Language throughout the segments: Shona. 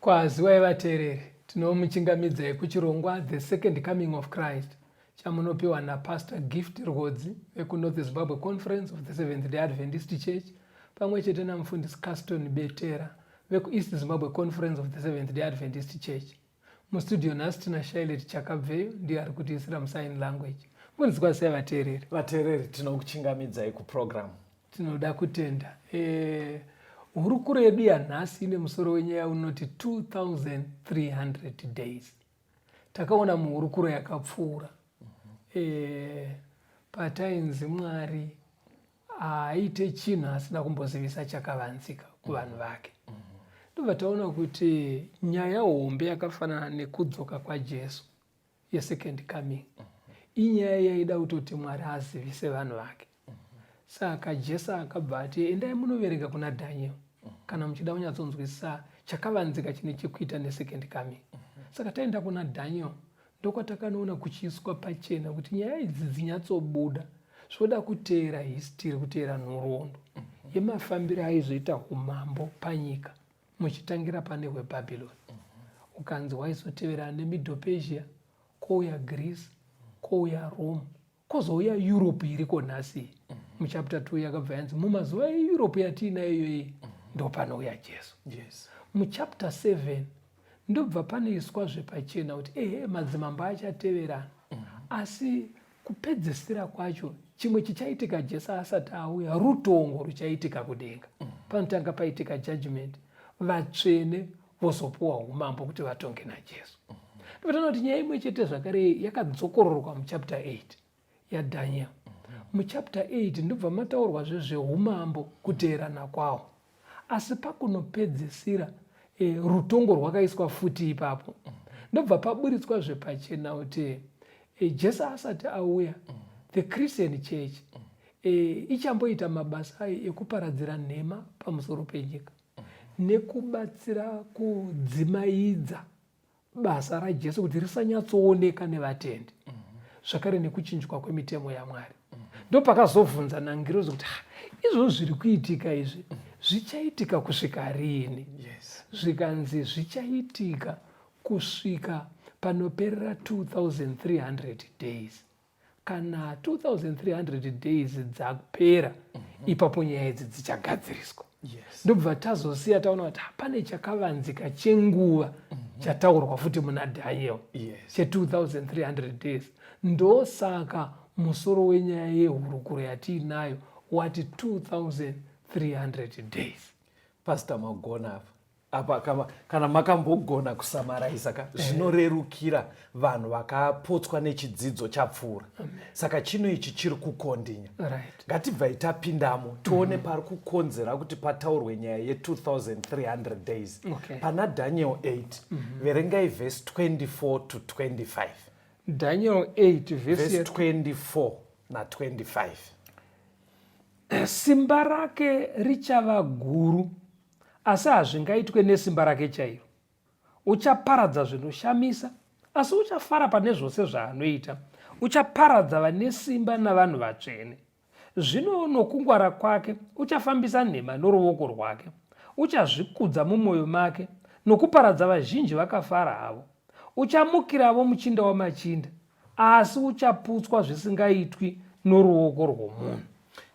Kwaziwai vateereri, tinomuchingamidzai kuchirongwa The Second Coming of Christ chamunopiwa naPastor Gift Rwodzi vekuNorth Zimbabwe Conference of the Seventh Day Adventist Church pamwe chete namufundisi Caston Betera vekuEast Zimbabwe Conference of the Seventh Day Adventist Church. Mustudio nhasi tina Shailet Chakabveyo ndiye ari kutiisira musign language. Mfundidzwa sei vateereri? Vateereri tinokuchingamidzai kuprogramu Tinoda kutenda. Eh, hurukuro yedu yanhasi ine musoro wenyaya unoti 2300 days. Takaona muhurukuro yakapfuura eh, patainzi Mwari haaite chinhu asina kumbozivisa chakavanzika kuvanhu vake. Ndobva taona kuti nyaya hombe yakafanana nekudzoka kwaJesu yesecond coming inyaya yaida kutoti mwari azivise vanhu vake saka jesu akabva ati endai munoverenga kuna daniel kana muchida kunyatsonzwisisa chakavanzika chine chekuita nesecond coming saka taenda kuna daniel ndokwatakanoona kuchiiswa pachena kuti nyaya idzi dzinyatsobuda zvoda kuteera histiri kuteera nhoroondo yemafambiro aizoita umambo panyika muchitangira pane hwebhabhironi mm -hmm. ukanzi waizoteverana nemiddle persia kwouya greece kwouya rome kwozouya europe iriko nhasi mm -hmm. muchapter 2 yakabva yanzi mumazuva eeurope yatiinayo iyoyi mm -hmm. ndopanouya jesu yes. muchapter 7 ndobva panoiswa zvepachena kuti ehe madzimambo achateverana mm -hmm. asi kupedzisira kwacho chimwe chichaitika jesu asati auya rutongo ruchaitika kudenga mm. panotanga paitika judgment vatsvene vozopuwa umambo kuti vatonge najesu mm. ndipatana kuti nyaya imwe chete zvakare yakadzokororwa muchapter 8 yadaniel mm. muchapter 8 ndobva mataurwa zvezveumambo kuteerana kwawo asi pakunopedzisira e, rutongo rwakaiswa futi ipapo ndobva paburitswa zvepachena kuti e, jesu asati auya the christian church e, ichamboita mabasa ayo ekuparadzira nhema pamusoro penyika nekubatsira kudzimaidza basa rajesu kuti risanyatsooneka nevatendi mhm. zvakare nekuchinjwa kwemitemo yamwari mhm. ndopakazovhunza nangirozi kuti izvozvo zviri kuitika izvi mhm. zvichaitika kusvika riini zvikanzi zvichaitika kusvika panoperera 2300 days kana 2300 days dzapera mm -hmm. ipapo nyaya idzi dzichagadziriswa yes. ndobva tazosiya taona kuti hapane chakavanzika chenguva mm -hmm. chataurwa futi muna daniel yes. che2300 days ndosaka musoro wenyaya yehurukuro yatiinayo wati 2300 days pastor magona apa apa kama, kana makambogona kusamaraisa ka eh. zvinorerukira vanhu vakapotswa nechidzidzo chapfuura saka chino ichi chiri kukondinya right. ngatibvai tapindamo tione mm. pari kukonzera kuti pataurwe nyaya ye2300 days okay. pana daniel 8 mm -hmm. verengai vhesi 24 to 25 daniel 8 vhesi 24 na 25 simba rake richava guru asi hazvingaitwe nesimba rake chairo. Uchaparadza zvinoshamisa, asi uchafara pane zvose zvaanoita. Uchaparadza vane simba navanhu vatsvene. Zvino nokungwara kwake uchafambisa nhema noruoko rwake. Uchazvikudza mumwoyo make nokuparadza vazhinji vakafara havo. Uchamukiravo muchinda wamachinda, asi uchaputswa zvisingaitwi noruoko rwomunhu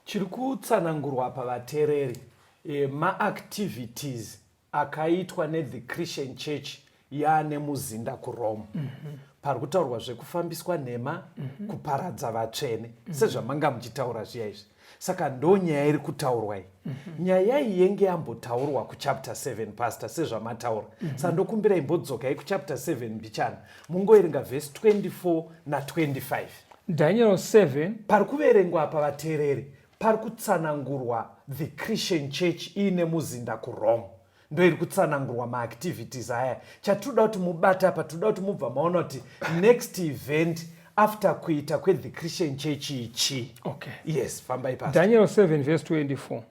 chiri kutsanangurwa apa vatereri e, maactivities akaitwa nethe christian church yaane muzinda kurome mm -hmm. pari kutaurwa zvekufambiswa nhema mm -hmm. kuparadza vatsvene mm -hmm. sezvamanga muchitaura zviya izvi saka ndo nyaya iri kutaurwa iyi mm -hmm. nyaya iyi yenge yambotaurwa kuchapter 7 pastor sezvamataura mm -hmm. sandokumbira imbodzokai kuchapter 7 mbichana mungoerenga vhesi 24 na25 daniel 7 pari kuverengwa apa vateereri pari kutsanangurwa the christian church iine muzinda kurome ndoiri kutsanangurwa maactivities aya chatinoda kuti mubata apa tinoda kuti mubva maona kuti next event after kuita kwethe christian church ichi okay. yes fambai pa daniel 7 vese 24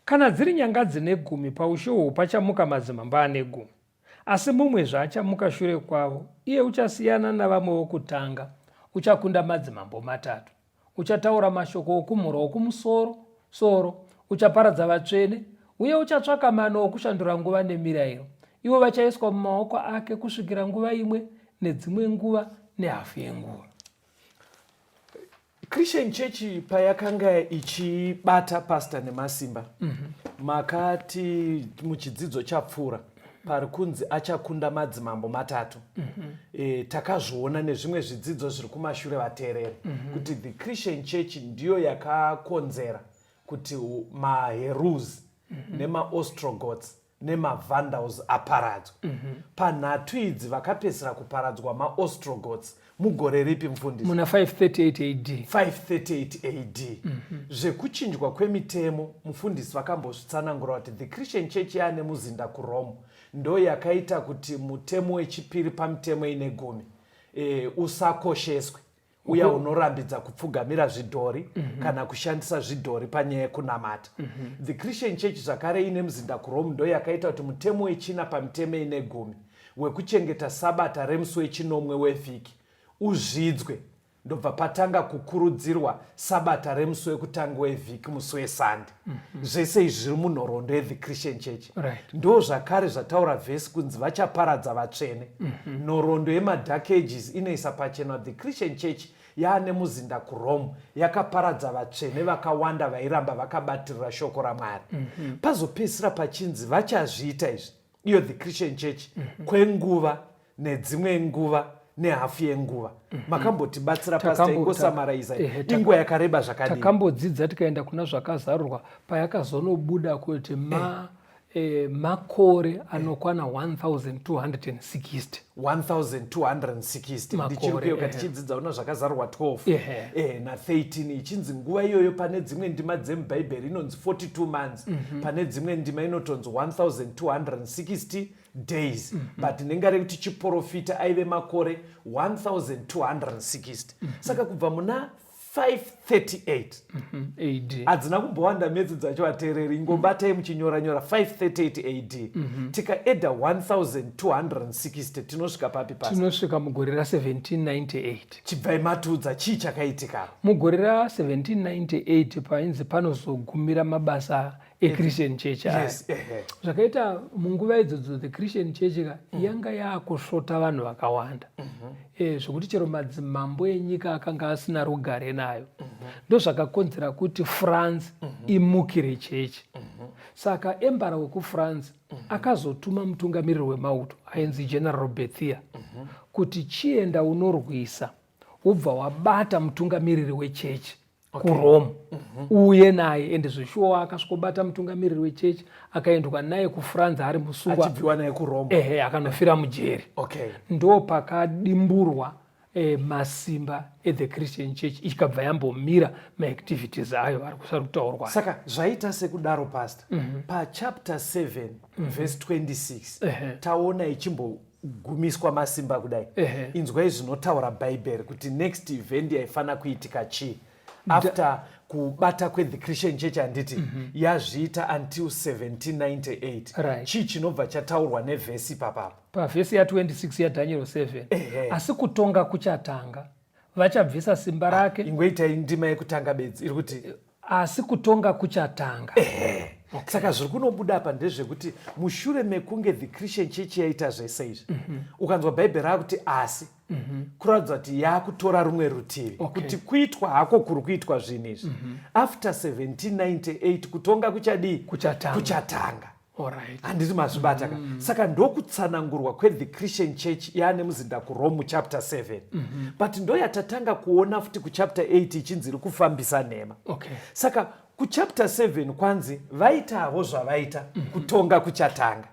kana dziri nyanga dzine gumi paushe uhwu pachamuka madzimamba ane gumi asi mumwe zvaachamuka shure kwavo iye uchasiyana navamwe vokutanga uchakunda madzimambo matatu Uchataura mashoko okumhura okumusoro soro, uchaparadza vatsvene, uye uchatsvaka mano okushandura nguva nemirayiro. Ivo vachaiswa mumaoko ake kusvikira nguva imwe nedzimwe nguva nehafu yenguva. Christian Church payakanga ichibata pastor nemasimba mm -hmm. makati muchidzidzo chapfuura pari kunzi achakunda madzimambo matatu mm -hmm. e, takazviona nezvimwe zvidzidzo zviri kumashure vateereri mm -hmm. kuti the christian church ndiyo yakakonzera kuti maherus mm -hmm. nemaostrogots nemavandals aparadzwa mm -hmm. panhatu idzi vakapedzisira kuparadzwa maostrogots mugore ripi mfundisi muna 538 ad 538 ad mm -hmm. zvekuchinjwa kwemitemo mufundisi vakambozvitsanangura kuti the christian church yaane muzinda kurome ndo yakaita kuti mutemo wechipiri pamitemo ine gumi e, usakosheswe uya mm -hmm. unorambidza kupfugamira zvidhori mm -hmm. kana kushandisa zvidhori panyaya yekunamata mm -hmm. the christian church zvakare ine muzinda kurome ndo yakaita kuti mutemo wechina pamitemo ine gumi wekuchengeta Sabata remusi wechinomwe wevhiki uzvidzwe ndobva patanga kukurudzirwa sabata remusi wekutanga wevhiki musi wesande mm -hmm. zvese izvi zviri munhoroondo yethe christian church right. ndo zvakare zvataura vhesi kunzi vachaparadza vatsvene mm -hmm. nhoroondo yemadark ages inoisa pachena the christian church yaane muzinda kurome yakaparadza vatsvene vakawanda vairamba vakabatirira shoko ramwari mm -hmm. pazopedzisira pachinzi vachazviita izvi iyo the christian church mm -hmm. kwenguva nedzimwe nguva nehafu yenguva mhm. makambotibatsira pasta ingosamaraiza inguva yakareba zvakadii takambodzidza tikaenda kuna zvakazarurwa payakazonobuda kuti ma eh. Eh, makore anokwana 1260 1260 ndichirikuyoka eh. tichidzidza una zvakazarwa 12 yeah. eh, na13 ichinzi nguva iyoyo pane dzimwe ndima dzemubhaibheri inonzi 42 months mm -hmm. pane dzimwe ndima inotonzi 1260 days mm -hmm. but nenga rekuti chiporofita aive makore 1260 mm -hmm. saka kubva muna 538 hadzina mm -hmm. kumbowanda medzi dzacho ateereri ingobatai muchinyora nyora 538 ad mm -hmm. tikaedha 1260 tinosvika papi pasi tinosvika mugore ra 1798 chibvai matiudza chii chakaitika mugore ra 1798 painzi panozogumira mabasa echristian church yes, eh, eh. zvakaita munguva idzodzo the christian church ka mm. yanga yakusvota vanhu vakawanda mm -hmm. e, zvekuti chero madzimambo enyika akanga asina rugare nayo mm -hmm. ndozvakakonzera kuti france mm -hmm. imukire chechi mm -hmm. saka embara wekufrance mm -hmm. akazotuma mutungamiriri wemauto ainzi general bethia mm -hmm. kuti chienda unorwisa wobva wabata mutungamiriri wechechi okay. kurome mm -hmm. uye naye ende zveshuwa akasvikobata mutungamiriri wechechi akaendwa naye kufrance ari musungwa achibviwa naye kurome ehe akanofira mujeri okay. ndo pakadimburwa eh, masimba ethe christian church ikabva yambomira maactivities ayo vari kusari kutaurwa saka zvaita sekudaro pasta mm -hmm. pachapter 7 mm -hmm. verse 26 uh -huh. taona ichimbo gumiswa masimba kudai inzwai zvinotaura bhaibheri kuti next event yaifanira kuitika chii after kubata kwethe christian church handiti mm -hmm. yazviita until 1798 right. chii chinobva chataurwa nevhesi papapo pavhesi ya26 yadaniel 7 ehe. asi kutonga kuchatanga vachabvisa simba ah, rake ah, ingoitai ndima yekutanga bedzi iri kuti eh, asi kutonga kuchatanga ehe okay. saka zviri kunobuda apa ndezvekuti mushure mekunge the christian church yaita zvese izvi mm -hmm. ukanzwa bhaibheri rakuti asi mm -hmm. kuratidza kuti yakutora rumwe rutivi okay. kuti kuitwa hako kuri kuitwa zvinhu izvi mm -hmm. after 1798 kutonga kuchadii kuchatanga, kuchatanga. handiti mazvibata ka mm. saka ndokutsanangurwa kwethe christian church yaane muzinda kurome chapter 7 mm -hmm. but ndoyatatanga kuona futi kuchapter 8 ichinzi iri kufambisa nhema okay. saka kuchapter 7 kwanzi vaitavo zvavaita mm -hmm. kutonga kuchatanga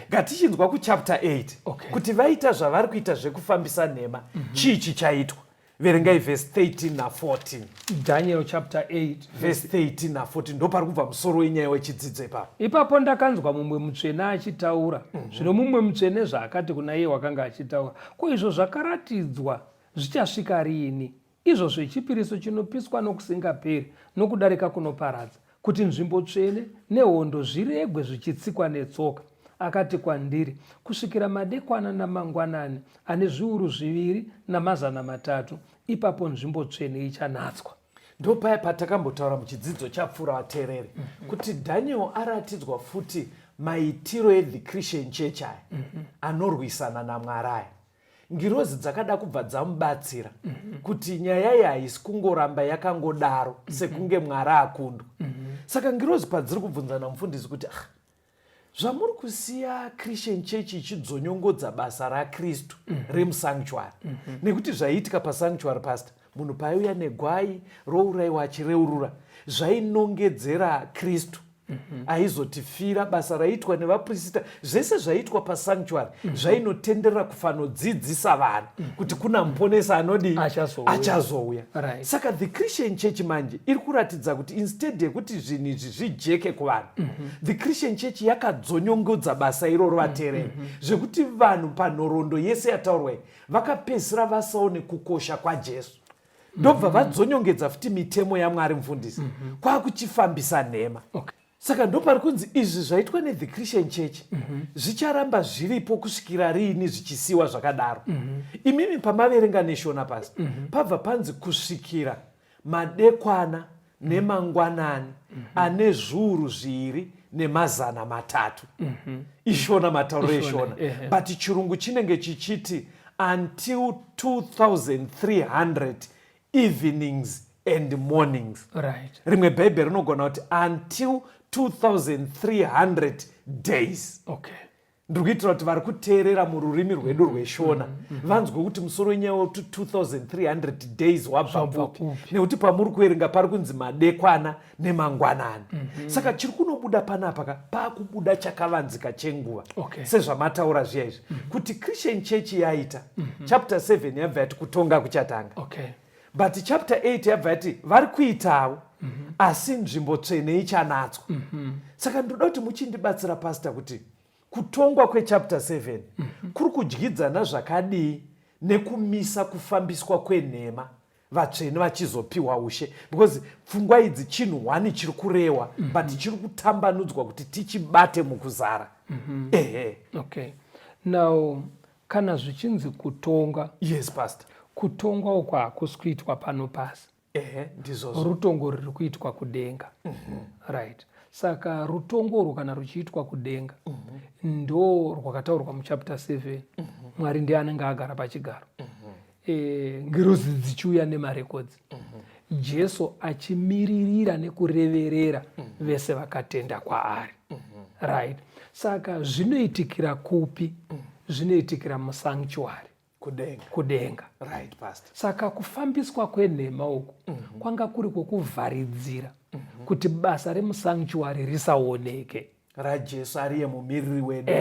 ngatichinzwa okay. kuchapter 8 okay. kuti vaita zvavari kuita zvekufambisa nhema mm -hmm. chii chichaitwa verengai vhesi 13 na14 daniel chapter 8 vhesi 13 na14 ndo pari kubva musoro wenyaya wechidzidzo ipapo ipapo ndakanzwa mumwe mutsvene achitaura mhm. zvino mumwe mutsvene zvaakati kuna iye wakanga achitaura ko izvo zvakaratidzwa zvichasvika riini izvo zvechipiriso chinopiswa nokusingaperi nokudarika kunoparadza kuti nzvimbo tsvene nehondo zviregwe zvichitsikwa netsoka akati kwandiri kusvikira madekwana namangwanani ane zviuru zviviri namazana matatu ipapo nzvimbo tsvene ichanatswa ndopaya patakambotaura muchidzidzo chapfuura vateereri mm-hmm. kuti daniel aratidzwa futi maitiro ethe christian church aya mm-hmm. anorwisana namwari aya ngirozi dzakada kubva dzamubatsira mm -hmm. kuti nyaya iyi haisi kungoramba yakangodaro mm -hmm. sekunge mwari akundwa mm -hmm. saka ngirozi padziri kubvunzana mufundisi kuti ah, zvamuri kusiya christian church ichidzonyongodza basa rakristu mm -hmm. remusanctuary mm -hmm. nekuti zvaiitika pasanctuary pastor munhu paaiuya negwai rouraiwa achireurura zvainongedzera kristu mhm. aizotifira basa raiitwa nevaprisita zvese zvaiitwa pasanctuary mhm. zvainotenderera kufanodzidzisa vanhu mhm. kuti kuna muponesa anodii achazouya saka the christian church manje iri kuratidza kuti instead yekuti zvinhu izvi zvijeke kuvanhu the christian church yakadzonyongodza basa iroro vateereri zvekuti vanhu panhoroondo yese yataurwai vakapedzisira vasaone kukosha kwajesu ndobva mm -hmm. vadzonyongedza futi mitemo yamwari mfundisi mm -hmm. kwakuchifambisa nhema okay. saka ndopari kunzi izvi zvaitwa nethe christian church mm -hmm. zvicharamba zviripo kusvikira riini zvichisiwa zvakadaro mm -hmm. imimi pamaverenga neshona pasi mm -hmm. pabva panzi kusvikira madekwana nemangwanani mhm. ane zviuru zviri nemazana matatu mhm. ishona matauro eshona but chirungu chinenge chichiti until 2300 evenings and mornings right. rimwe bhaibheri rinogona kuti until 2300 days okay. ndiri kuitira kuti vari kuteerera mururimi rwedu mm-hmm. rweshona mm-hmm. Mm-hmm. vanzwe kuti musoro wenyaya wa 2300 days wabva kupi nekuti pamuri kuerenga pari kunzi madekwana nemangwanani saka chiri kunobuda panapa ka paakubuda chakavanzika chenguva sezvamataura zviya izvi kuti christian church yaita chapter 7 yabva yati kutonga kuchatanga but chapter 8 yabva yati vari kuitawo mm -hmm. asi nzvimbo tsvene ichanatswa mm -hmm. saka ndoda kuti muchindibatsira pasta kuti kutongwa kwechapter 7 mm -hmm. kuri kudyidzana zvakadii nekumisa kufambiswa kwenhema vatsvene vachizopiwa ushe because pfungwa idzi chinhu one chiri kurewa mm -hmm. but chiri kutambanudzwa kuti tichibate mukuzara mm -hmm. ehe okay now kana zvichinzi kutonga yes pastor kutongwa uko hakusi kuitwa pano pasi ehe ndizvozvo rutongo riri kuitwa kudenga mm -hmm. right saka rutongo urwu kana ruchiitwa kudenga mm -hmm. ndo rwakataurwa muchapter 7 mm -hmm. mwari ndiye anenge agara pachigaro mm -hmm. e, ngirozi dzichiuya nemarekodzi mm -hmm. jesu achimiririra nekureverera mm -hmm. vese vakatenda kwaari mm -hmm. right saka zvinoitikira kupi mm -hmm. zvinoitikira musanctuary kudenga, kudenga. Right, pastor. saka kufambiswa kwenhema uku mm -hmm. kwanga kuri kwokuvharidzira mm -hmm. kuti basa remusanctuary risaoneke rajesu ariye mumiriri wedu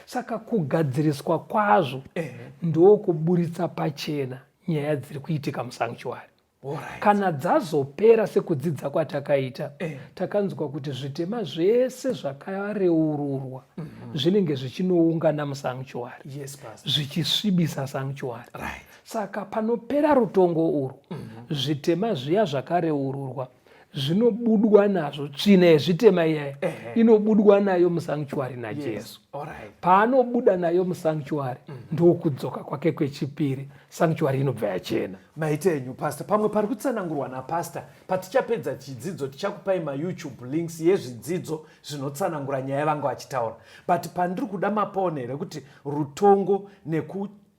saka kugadziriswa kwazvo ndokuburitsa pachena nyaya dziri kuitika musanctuary Alright. kana dzazopera sekudzidza kwatakaita eh. takanzwa kuti zvitema zvese zvakareururwa mm -hmm. zvinenge zvichinoungana musanctuary yes, zvichisvibisa sanctuary right. saka panopera rutongo urwu mm -hmm. zvitema zviya zvakareururwa zvinobudwa nazvo tsvina yezvitema iyaya inobudwa nayo musanctuary najesu paanobuda nayo musanctuary mm. ndokudzoka kwake kwechipiri sanctuary inobva yachena maita enyu pastor pamwe pari kutsanangurwa napastor patichapedza chidzidzo tichakupai mayoutube links yezvidzidzo zvinotsanangura nyaya yavanga vachitaura but pandiri kuda mapone rekuti rutongo neku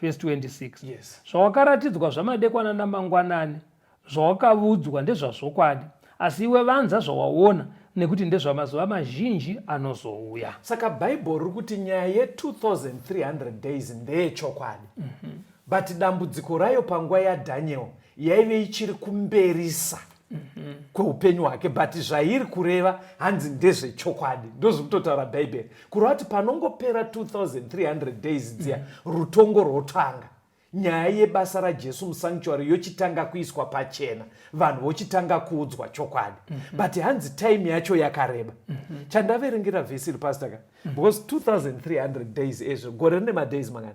vhesi 26 yes. zvawakaratidzwa zvamadekwana namangwanani zvawakavudzwa ndezvazvokwadi asi iwe vanza zvawaona nekuti ndezvamazuva mazhinji anozouya saka bhaibheri riri kuti nyaya ye2300 days ndeyechokwadi mm -hmm. but dambudziko rayo panguva yadaniel yaive ichiri kumberisa mhm. kweupenyu hwake but zvairi kureva hanzi ndezvechokwadi ndozvikutotaura bhaibheri kureva kuti panongopera 2300 days dziya mhm. rutongo rwotanga nyaya yebasa rajesu musanctuary yochitanga kuiswa pachena vanhu vochitanga kuudzwa chokwadi mm -hmm. but hanzi time yacho yakareba mm -hmm. chandaverengera vhesi iri pasitaka mm -hmm. because 2300 days ezvo gore rine madays mangani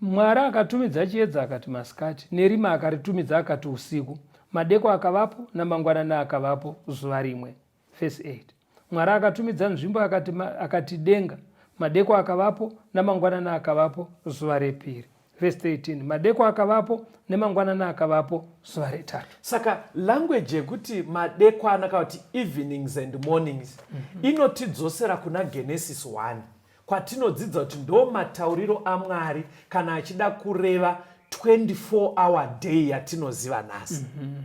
Mwari akatumidza chiedza akati masikati, nerima akaritumidza akati usiku, madeko akavapo namangwanana akavapo zuva rimwe. Verse 8. Mwari akatumidza nzvimbo akati, akati denga, madeko akavapo namangwanana akavapo zuva repiri. Verse 13. Madeko akavapo nemangwanana akavapo zuva retatu. Saka language yekuti madekwana kana kuti evenings and mornings mm -hmm. inotidzosera kuna Genesis 1 Kwatinodzidza kuti ndo matauriro aMwari kana achida kureva 24 hour day yatinoziva nhasi. Mm -hmm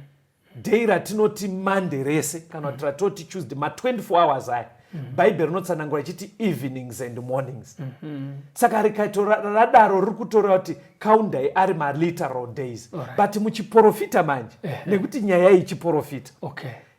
day ratinoti monday rese kana kuti ratoti tuesday ma24 hours aya mhm. bhaibheri rinotsanangura ichiti evenings and mornings mhm. saka rikaito radaro riri kutoreva kuti kaundai ari maliteral days but muchiprofita manje nekuti nyaya iyi chiprofita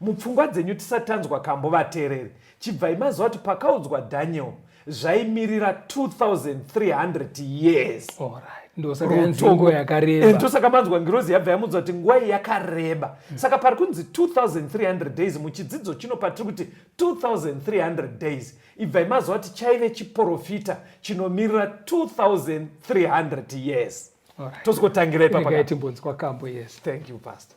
Mupfungwa dzenyu tisatanzwa kambo vatereri chibvai maziva kuti pakaudzwa Daniel zvaimirira 2300 years. Alright ndosakayanzingo yakareba ndosaka manzwa ngirozi yabva yamuudza kuti nguva iyi yakareba mm. saka pari kunzi 2300 days muchidzidzo chino patiri kuti 2300 days ibvai maziva kuti chaive chiporofita chinomirira 2300 years right. tozokotangira ipapatimbonzwa kambo yes thank you pastor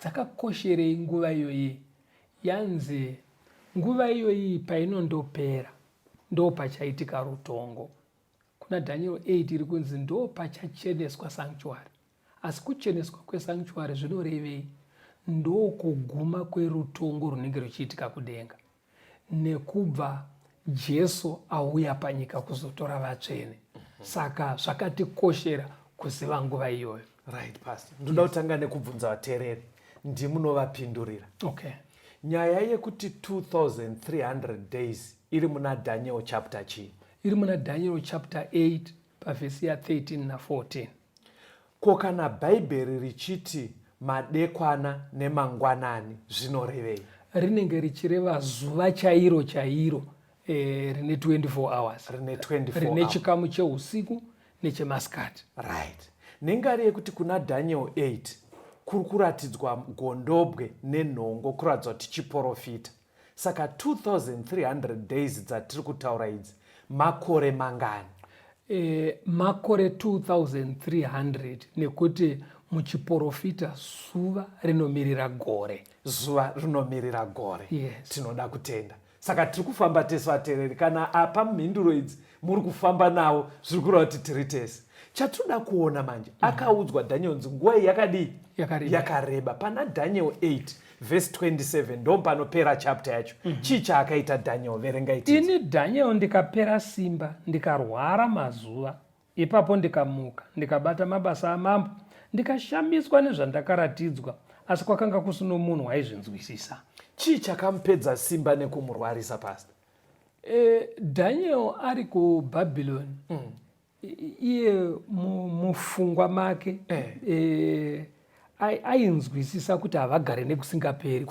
Dzakakosherei nguva iyoyi? Yanzi nguva iyoyi painondopera ndo pachaitika rutongo. Kuna Dhanieri 8 iri kunzi ndo pachacheneswa sanctuary. Asi kucheneswa kwesanctuary zvinorevei? Ndokuguma kwerutongo runenge ruchiitika kudenga. nekubva Jesu auya panyika kuzotora vatsvene saka zvakatikoshera kuziva nguva iyoyo right pastor ndoda kutanga nekubvunza vateereri ndimunovapindurira okay nyaya yekuti 2300 days iri muna daniel chapter chii iri muna daniel chapter 8 pavhesi ya 13 na 14 ko kana bhaibheri richiti madekwana nemangwanani zvinorevei rinenge richireva zuva chairo chairo eh, rine 24 hours rine 24 rine hours. chikamu cheusiku nechemasikati right nengari yekuti kuna daniel 8 kuri kuratidzwa gondobwe nenhongo kuratidzwa kuti chiporofita saka 2300 days dzatiri kutaura idzi makore mangani e, makore 2300 nekuti muchiporofita zuva rinomirira gore zuva rinomirira gore yes. tinoda kutenda saka tiri kufamba tese vateereri kana apa mhinduro idzi muri kufamba nawo zviri kureva kuti tiri tese chatinoda kuona manje mm. akaudzwa daniel nzi nguva iyi yakadii yakareba pana daniel 8 vhesi 27 ndopanopera chapter yacho mm -hmm. chii chaakaita daniel verenga iti ini daniel ndikapera simba ndikarwara mazuva ipapo ndikamuka ndikabata mabasa amambo ndikashamiswa nezvandakaratidzwa asi kwakanga kusino munhu waizvinzwisisa chii chakamupedza simba nekumurwarisa pasta e, daniel ari kubhabhiloni mm. iye mufungwa make eh. Eh, ainzwisisa kuti havagare nekusingaperi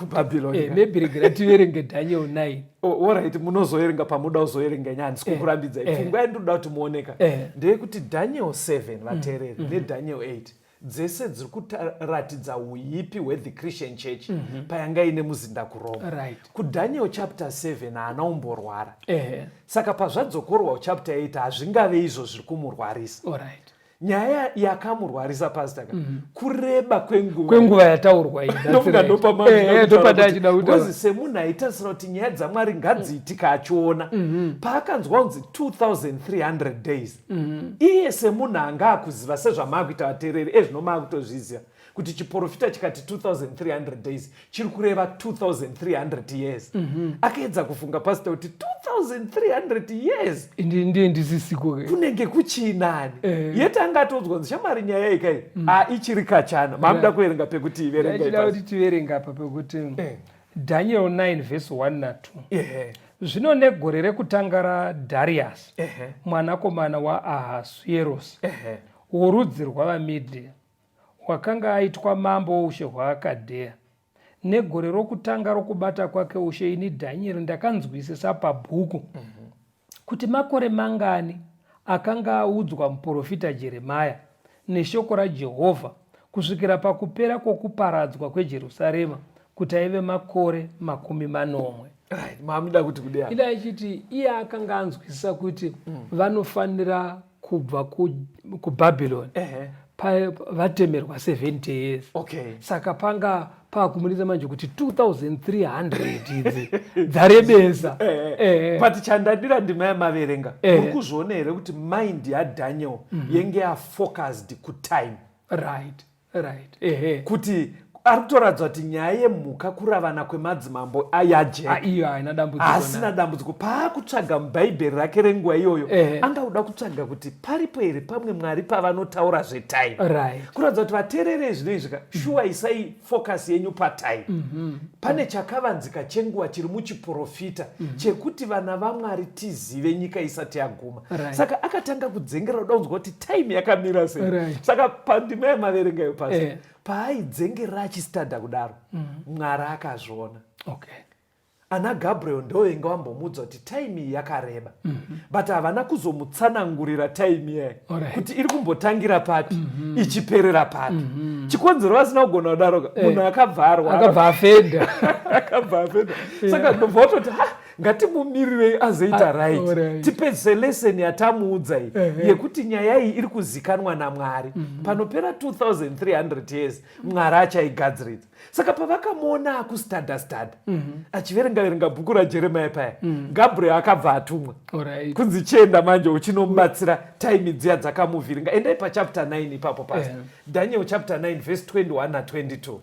mebhiregera eh, tiverenge daniel 9 orit munozoerenga pamuda kuzoerenga nyaya handisi kukurambidza pfungwa yandinoda kuti muoneka ndeyekuti daniel 7 vateereri mm-hmm. nedaniel 8 dzese dziri kutaratidza uipi hwethe christian church mm -hmm. payanga ine muzinda kuroma right. kudaniel chapter 7 haana umborwara eh. saka pazvadzokorwa kuchapter 8 hazvingave izvo zviri kumurwarisa right. nyaya yakamurwarisa pasta ka mm -hmm. kureba kwenguva kwenguva yataurwa ndofunga ndopamaozi semunhu aitarisira kuti nyaya dzamwari ngadziitika achiona mm -hmm. paakanzwa kunzi 2300 days mm-hmm. iye semunhu anga akuziva sezvamaakuita vateereri ezvino maakutozviziva kuti chiporofita chikati 2300 days chiri kureva 2300 years mm-hmm. akaedza kufunga pasita kuti 2300 years ndiye ndisisiko kunenge kuchiinani eh. yete anga atodzwa nzi shamwari nyaya yeikai mm. a ah, ichiri kachana maakuda kuverenga pekuti iverengakuti tiverenga apa pekuti eh. Daniel 9 vhesi 1 na 2 zvino negore rekutanga raDhariasi mwanakomana waAhasuerosi worudzi rwavaMedhia wakanga aitwa mambo woushe hwaAkadheya negore rokutanga rokubata kwake ushe ini Dhanieri ndakanzwisisa pabhuku mm -hmm. kuti makore mangani akanga audzwa muprofita Jeremia neshoko raJehovha kusvikira pakupera kwokuparadzwa kweJerusarema kuti aive makore makumi manomwe mamunoda kuti kudai ida achiti iye akanga anzwisisa kuti mm. vanofanira kubva kuBabylon ku uh -huh. vatemerwa 70 years okay. saka panga paakumuridza manje kuti 2300 idzi dzarebesa eh, eh, eh, eh. but chandadira ndima yamaverenga eh. uri kuzviona here kuti mind yadaniel mm -hmm. yenge yafocused kutime right right ehe kuti ari kutoradzwa kuti nyaya yemhuka kuravana kwemadzimambo yajeka ah, iyo haina dambudziko haasina dambudziko paakutsvaga mubhaibheri rake renguva iyoyo angauda kutsvaga kuti paripo here pamwe mwari pavanotaura zvetime right. kuratidza kuti vateerere zvinoi zvika mm. shuwa isai focus yenyu patime mm -hmm. pane chakavanzika chenguva chiri muchiprofita mm -hmm. chekuti vana vamwari tizive nyika isati yaguma right. saka akatanga kudzengera uda kunzwa kuti time yakamira sei right. saka pandima yamaverengayo pasi yeah. paaidzengera achistada kudaro mm. mwari akazviona okay ana gabriel ndo inge wambomuudza kuti time iyi yakareba mm -hmm. but havana kuzomutsanangurira time iyayi right. kuti iri kumbotangira papi mm -hmm. ichiperera papi mm -hmm. chikonzero vasina kugona kudaroka eh. munhu akabva arwa akabva afenda akabva afenda saka ndobva watoti ha ngatimumirirei azoita ah, right tipedzise lesson yatamuudza iyi yekuti nyaya iyi iri kuzikanwa namwari mhm. panopera 2300 years mwari achaigadziridza saka pavakamuona akustadastada mhm. achiverenga verenga bhuku rajeremia paya mhm. gabriel akabva atumwa kunzi chienda manje uchinomubatsira time dziya dzakamuvhiringa endai pachapter 9 ipapo pasi daniel chapter 9 vhesi 21 na 22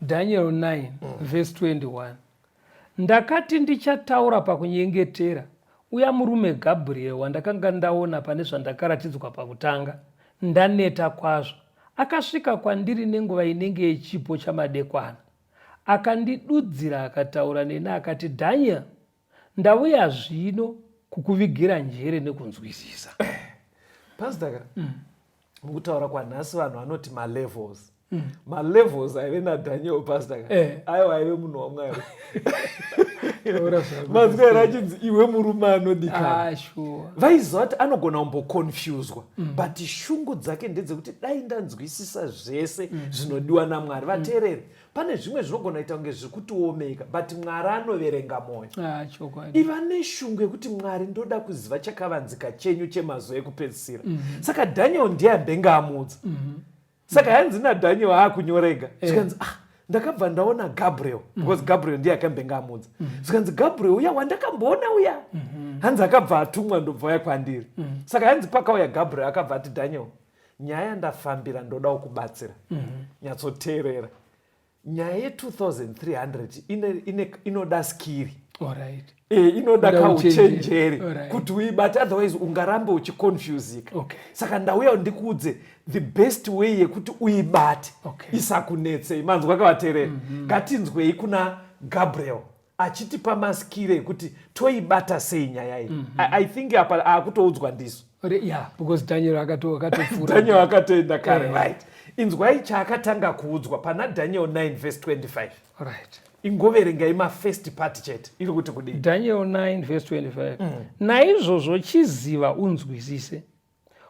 daniel 9 vhesi 21 Ndakati ndichataura pakunyengetera uya murume Gabriel wandakanga ndaona pane zvandakaratidzwa pakutanga ndaneta kwazvo akasvika kwandiri nenguva inenge yechipo chamadekwana akandidudzira akataura neni akati Daniel ndauya zvino kukuvigira njere nekunzwisisa Pastor ka mm. mukutaura kwanhasi vanhu vanoti malevels mm. malevels aive nadaniel pastor ka eh. aiwa aive munhu wamwari mazwera achinzi iwe murume anodikana ah, vaiziva kuti anogona kumboconfuswa mm. but shungu dzake ndedzekuti dai ndanzwisisa zvese mm. zvinodiwa namwari vateereri mm. pane zvimwe zvinogona kuita kunge zviri kutiomeka but mwari anoverenga mwoyo ah, iva neshungu yekuti mwari ndoda kuziva chakavanzika chenyu chemazuva ekupedzisira mm -hmm. saka daniel ndiye ambenge amuudza mm -hmm. saka hanzi nadaniel aakunyorega eh. zvikanzi ah ndakabva ndaona gabriel mhm. because gabriel ndiye akambenge amuudza mhm. zvikanzi gabriel uya wandakamboona uya mhm. hanzi akabva atumwa ndobva uya kwandiri saka hanzi pakauya gabriel akabva ati daniel nyaya yandafambira ndodawo kubatsira mm -hmm. nyatsoteerera nyaya ye2300 inoda skiri right. e, inoda kauchenjeri right. kuti uibate otherwise ungarambe uchiconfusika okay. saka ndauya ndikuudze the best way yekuti uibate okay. isakunetsei manzwa kavatereri mm -hmm. ngatinzwei kuna gabriel achitipa maskire ekuti toibata sei nyaya iyi mm -hmm. I, i think apa akutoudzwa ndisu yeah, because daniel akatodaniel akatoenda kare yeah. right inzwai chaakatanga kuudzwa pana daniel 9 vese 25 right ingoverengai mafirst part chete iri kuti kudii daniel 9 vese 25 mm. naizvozvo chiziva unzwisise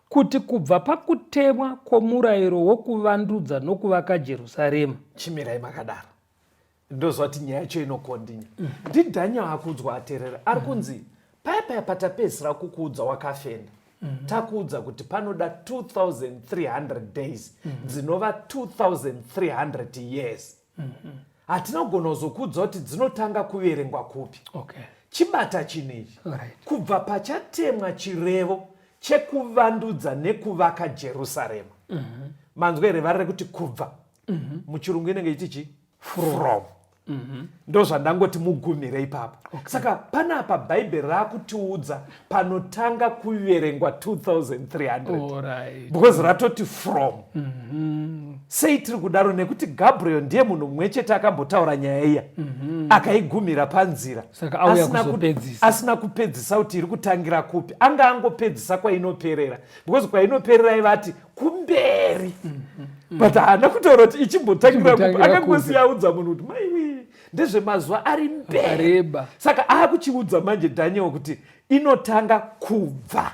kuti kubva pakutemwa kwomurayiro wokuvandudza nokuvaka jerusarema chimirai makadaro ndozvati nyaya yacho inokondinya ndidhanya akuudzwa aterera ari kunzi paya paya patapedzisira kukuudza wakafenda mhm. takuudza kuti panoda 2300 days mhm. dzinova 2300 years mhm. hatina kugona kuzokuudza kuti dzinotanga kuverengwa kupi chibata chinhu ichi kubva pachatemwa chirevo chekuvandudza nekuvaka jerusarema manzwa here vari rekuti kubva muchirungu inenge ichichi from mhm. ndozvandangoti mugumire ipapo okay. saka panapa bhaibheri raakutiudza panotanga kuverengwa 2300 right. because ratoti from mm -hmm. sei tiri kudaro nekuti gabriel ndiye munhu mumwe chete akambotaura nyaya iya mm -hmm. akaigumira panzira asina kupedzisa kuti iri kutangira kupi anga angopedzisa kwainoperera because kwainoperera ivati kumberi mm-hmm. but haana kutaura kuti ichimbotangira kupi akangosiyaudza munhu kuti maiwi ndezvemazuva ari mbereba saka akuchiudza manje daniel kuti inotanga kubva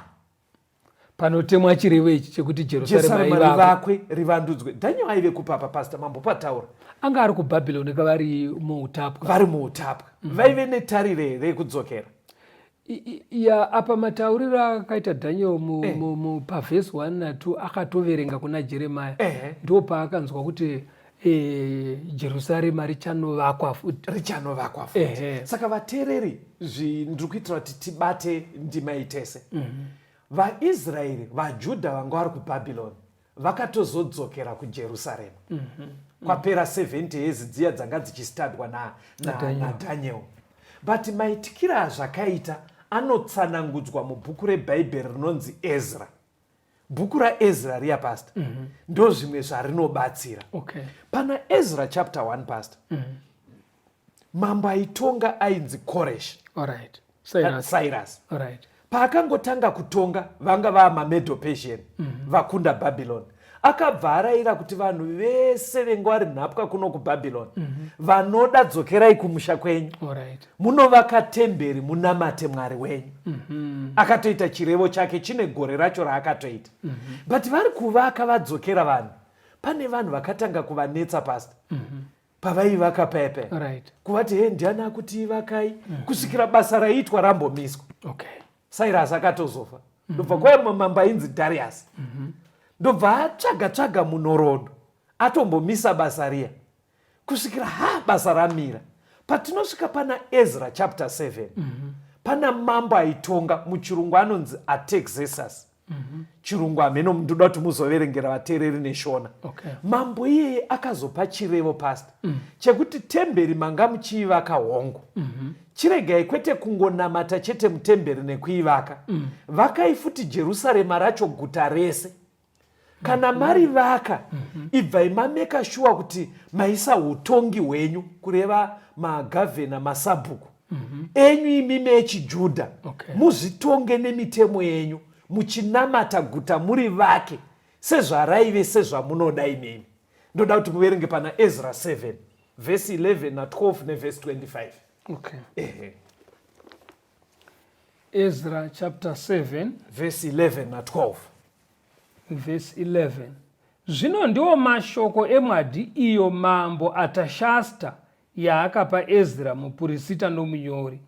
panotemwa chirevo ichi chekuti jerusalemrivakwe rivandudzwe daniel aive kupapa pasta mambo pataura anga ari kubhabhiloni kavari muutapwa vari muutapwa mm-hmm. vaive netarire rekudzokera ya apa matauriro akaita daniel pavhesi eh. 1 na2 akatoverenga kuna jeremaya eh. ndo paakanzwa kuti eh, jerusarema richanovakwa futi richanovakwa futi saka vateereri ndiri kuitira kuti tibate ndima itese mhm. vaisraeri vajudha vanga vari kubhabhiloni vakatozodzokera kujerusarema mm -hmm. kwapera 70 years dziya dzanga dzichistadwa nadaniel na, na but maitikira azvakaita anotsanangudzwa mubhuku rebhaibheri rinonzi ezra bhuku raezra riya pasta mm -hmm. ndo zvimwe zvarinobatsira okay. pana ezra chapter 1 pasta mm -hmm. mambo aitonga ainzi koresh right. cyrus, cyrus. Right. paakangotanga kutonga vanga vaa mamedo persian mm -hmm. vakunda babylon akabva arayira kuti vanhu vese vengo ari nhapwa kuno kubabylon mm -hmm. vanoda dzokerai kumusha kwenyu right. munovaka temberi munamate mwari wenyu mm -hmm. akatoita chirevo chake chine gore racho raakatoita mm -hmm. but vari kuvaka vadzokera vanhu pane vanhu vakatanga kuvanetsa pasta mm -hmm pavaivaka paya paya right. kuvati he ndiani akuti ivakai mm -hmm. kusvikira basa raiitwa rambomiswa okay. cyrus akatozofa mm -hmm. ndobva kwaya mamamba ainzi darius mm -hmm. ndobva atsvaga tsvaga munhoroondo atombomisa basa riya kusvikira ha basa ramira patinosvika pana ezra chapter 7 mm -hmm. pana mambo aitonga muchirungu anonzi atexesus mhm. chirungu hameno ndoda kuti muzoverengera vateereri neshona okay. mambo iyeye akazopa chirevo pasta mm. chekuti temberi manga muchiivaka hongu mm -hmm. chiregai kwete kungonamata chete mutemberi nekuivaka mm. vakai futi jerusarema racho guta rese kana mari vaka mhm. ibvai mameka shuwa kuti maisa utongi hwenyu kureva magavhena masabhuku mhm. enyu imimi echijudha muzvitonge nemitemo yenyu muchinamata guta muri vake sezvaraive sezvamunoda imimi ndoda kuti muverenge pana ezra 7 vhesi 11 na12 nevhesi 25 okay. ehe ezra chapter 7 vhesi 11 na12 Verse 11 Zvino ndiwo mashoko emwadhi iyo mambo Atashasta yaakapa Ezra mupurisita nomunyori,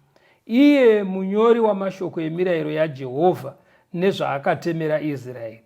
iye munyori wamashoko emirayiro yaJehovha nezvaakatemera Israeri.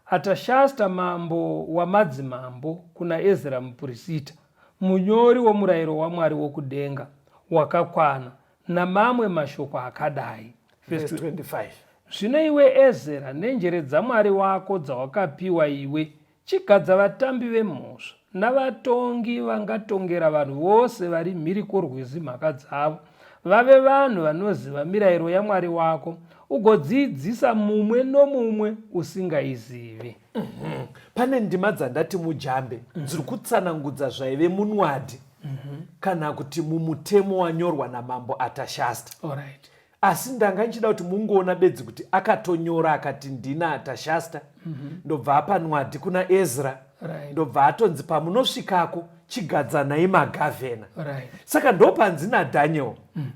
Atashasta mambo wamadzimambo kuna Ezra mupurisita, munyori womurayiro waMwari wokudenga wakakwana, Namamwe mashoko akadai. Verse 25. Zvino iwe Ezera, nenjere dzaMwari wako dzawakapiwa iwe, chigadza vatambi vemhosva navatongi vangatongera vanhu vose vari mhiri kworwizi mhaka dzavo, vave vanhu vanoziva mirayiro yaMwari wako, ugodziidzisa mumwe nomumwe usingaizivi. Mhm. Pane ndima dzandati mujambe dziri kutsanangudza zvaive munwadhi. mm -hmm. kana kuti mumutemo wanyorwa namambo atashasta right. asi ndanga ndichida kuti mungoona bedzi kuti akatonyora akati ndina atashasta mm -hmm. ndobva apa nwadhi kuna ezra right. ndobva atonzi pamunosvikako chigadzanai magavhena right. saka ndopanzi nadaniel mm.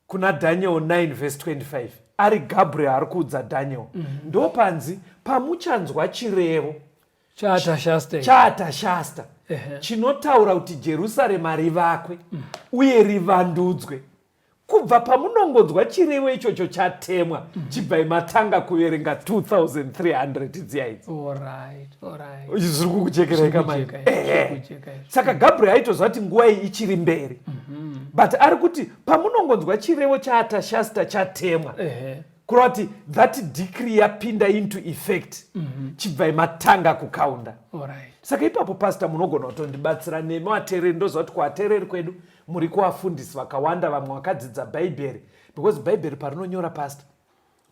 kuna daniel 9 vhesi 25 ari gabriel ari kuudza daniel mm -hmm. ndopanzi pamuchanzwa chirevo chaatashasta chinotaura kuti jerusarema rivakwe mm. uye rivandudzwe kubva pamunongonzwa chirevo ichocho chatemwa mm. chibvai matanga kuverenga 2300 dziya idzi zviri kukuchekerai kamai saka gabriel aitoziva kuti nguva iyi ichiri mberi mhm. but ari kuti pamunongonzwa chirevo chaatashasta chatemwa kureva kuti that decree yapinda into effect mhm. chibvai matanga kukaunda saka ipapo pasta munogona kutondibatsira nemi vateereri ndoziva kuti kuvateereri kwedu muri kuvafundisi vakawanda vamwe vakadzidza bhaibheri because bhaibheri parinonyora pasta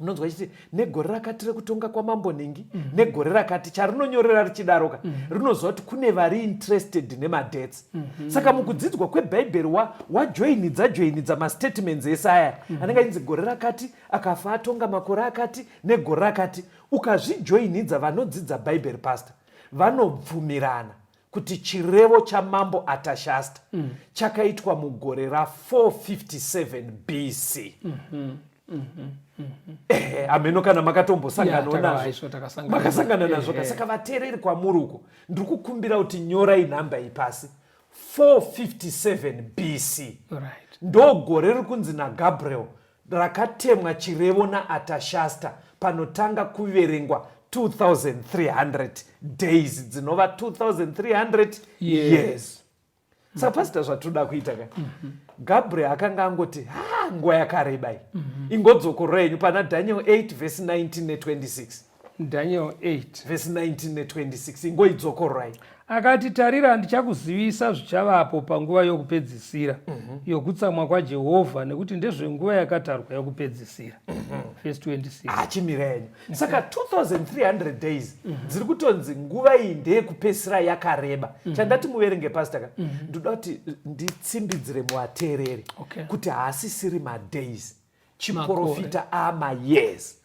unonzwa chiti negore rakati rekutonga kwamambo nhingi mm -hmm. negore rakati charinonyorera richidaroka mm -hmm. rinoziva kuti kune vari interested nemadebts mm -hmm. saka mukudzidzwa kwebhaibheri wajoinidza wa joinidza mastatements ese aya mm -hmm. anenge achinzi gore rakati akafa atonga makore akati negore rakati ukazvijoinidza vanodzidza bhaibheri pastor vanobvumirana kuti chirevo chamambo atashasta mm. chakaitwa mugore ra457 bc mm -hmm. Mm -hmm. Mm -hmm. Eh, hameno kana makatombosanganawo yeah, nazvo makasangana nazvo eh, ka eh. saka vateereri kwamuri uko ndiri kukumbira kuti nyorai nhamba iyi pasi 457 bc right. ndogore riri kunzi nagabriel rakatemwa chirevo naAtashasta panotanga kuverengwa 2300 days dzinova 2300 years, years. saka pasita zvatoda kuita ka mhm. gabriel akanga angoti ha nguva yakareba iyi mhm. ingodzokorora yenyu pana daniel 8 vhesi 19 ne 26 Daniel 8 verse 19 ne 26 ingoidzokororai. Akati, Tarira, ndichakuzivisa zvichavapo panguva yokupedzisira mm -hmm. yokutsamwa kwaJehovha, nekuti ndezvenguva yakatarwa yokupedzisira. Mm -hmm. Verse 26. Ah, chimira yenyu. Mhm. Saka 2300 days mm -hmm. dziri kutonzi nguva iyi ndeyekupedzisira yakareba. Mm -hmm. Chandati muverenge pastor ka. Mm -hmm. Ndoda kuti nditsimbidzire muateereri okay. kuti haasisiri madays. chiporofita ama years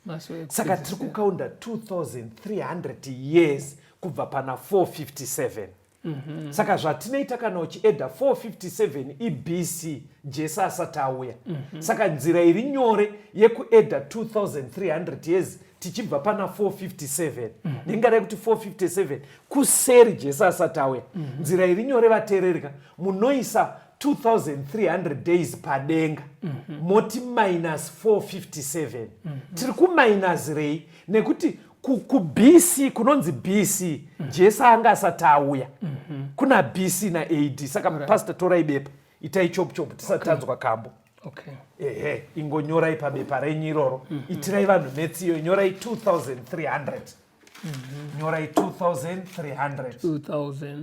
saka tiri kukaunda 2300 years kubva pana 457 mm -hmm. saka zvatinoita kana uchieda 457 ibc jesu asati auya mm -hmm. saka nzira iri nyore yekueda 2300 years tichibva pana 457 mm -hmm. ndingadai kuti 457 kuseri jesu asati auya mm -hmm. nzira iri nyore vateererika munoisa 2300 days padenga mm -hmm. moti minus 457 mm -hmm. tiri kuminus rei nekuti kubc kunonzi bc mm -hmm. jesu anga asati auya mm -hmm. kuna bc na ad saka right. pastor torai bepa itai chop chop tisatanzwa okay. kambo okay. ehe ingonyorai pabepa renyu iroro mm -hmm. itirai vanhu metsi iyo nyorai 2300 mm -hmm. nyorai 2300 2300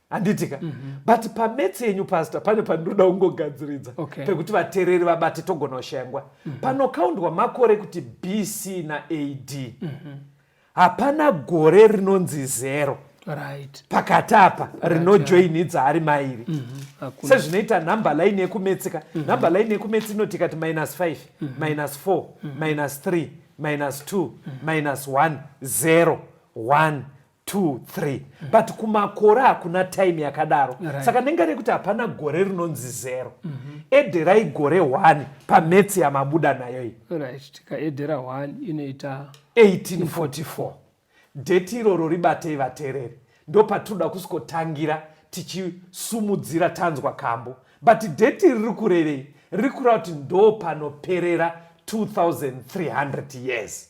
handiti ka mm -hmm. but pametsi yenyu pastor pane pandinoda kungogadziridza okay. pekuti vatereri vabati togona kushaya nguva mm -hmm. panokaundwa makore kuti bc na ad mm -hmm. hapana gore rinonzi zero right. pakati apa right, rinojoini yeah. dzaari mairi mm -hmm. sezvinoita number line yekumetsika mm -hmm. number line yekumetsi inoti ikati minus 5 mm -hmm. minus 4 mm -hmm. minus 3 minus 2 mm -hmm. minus 1 0 1 two three mm. but kumakore hakuna time yakadaro right. saka ndenge rekuti hapana gore rinonzi zero mm -hmm. ederai gore one pametsi yamabuda nayo iyi right. tikaedera one inoita 1844 deti iroro ribatei vatereri ndo patinoda kusikotangira tichisumudzira tanzwa kambo but deti riri kurevei riri kureva kuti ndo panoperera 2300 years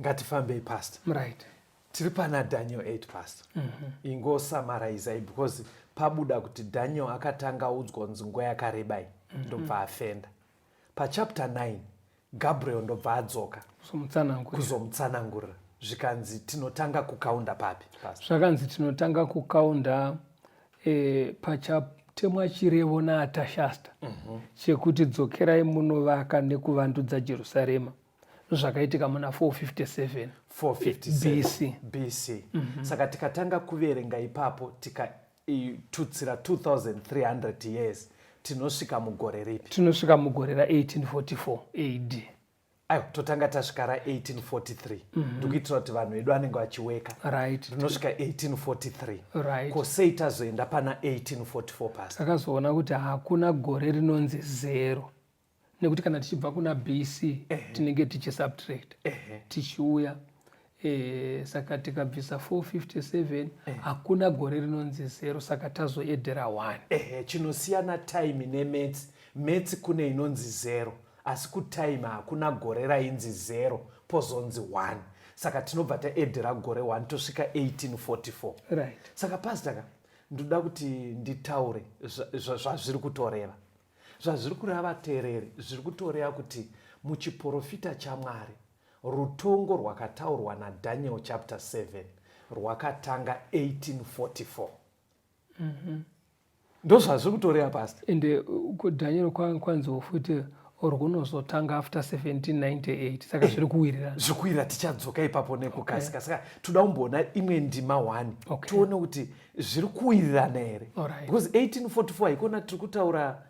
ngatifambei past right tiri pana daniel 8 past mm -hmm. ingosamarizai because pabuda kuti daniel akatanga audzwa kunzi nguva yakarebai mm -hmm. ndobva afenda pachapter 9 gabriel ndobva adzoka kuzomutsanangurira zvikanzi tinotanga kukaunda papi zvakanzi tinotanga kukaunda e, eh, pachatemwa chirevo naatashasta mm -hmm. chekuti dzokerai munovaka nekuvandudza jerusarema zvakaitika muna 457 457 BC, BC. Mm -hmm. saka tikatanga kuverenga ipapo tikatutsira 2300 years tinosvika mugore ripi tinosvika mugore ra1844 ad aiwa totanga tasvika ra1843 mhm. ndikuitira kuti vanhu vedu vanenge vachiweka rinosvika 1843 ko sei tazoenda pana 1844 pasi takazoona kuti hakuna gore rinonzi zero nekuti kana tichibva kuna bc tinenge tichisubtract tichiuya eh, saka tikabvisa 457 hakuna gore rinonzi zero saka tazoedera 1 chinosiyana time nemetsi metsi kune inonzi zero asi kutime hakuna gore rainzi zero pozonzi 1 saka tinobva taedera gore 1 tosvika 1844 right. saka pastaka ndoda kuti nditaure zvazviri kutoreva Zvazviri kureva vateereri zviri kutoreva kuti muchiporofita chaMwari, rutongo rwakataurwa naDaniel chapter 7 rwakatanga 1844. Mm -hmm. Ndozvazviri kutoreva pasta. And uh, kuDaniel kwanziwo futi rwunozotanga after 1798 saka zviri kuwirira zvikuwirira tichadzoka ipapo nekukasika saka toda kumboona imwe ndima one okay. tione kuti zviri kuwirirana here because 1844 haikona tiri kutaura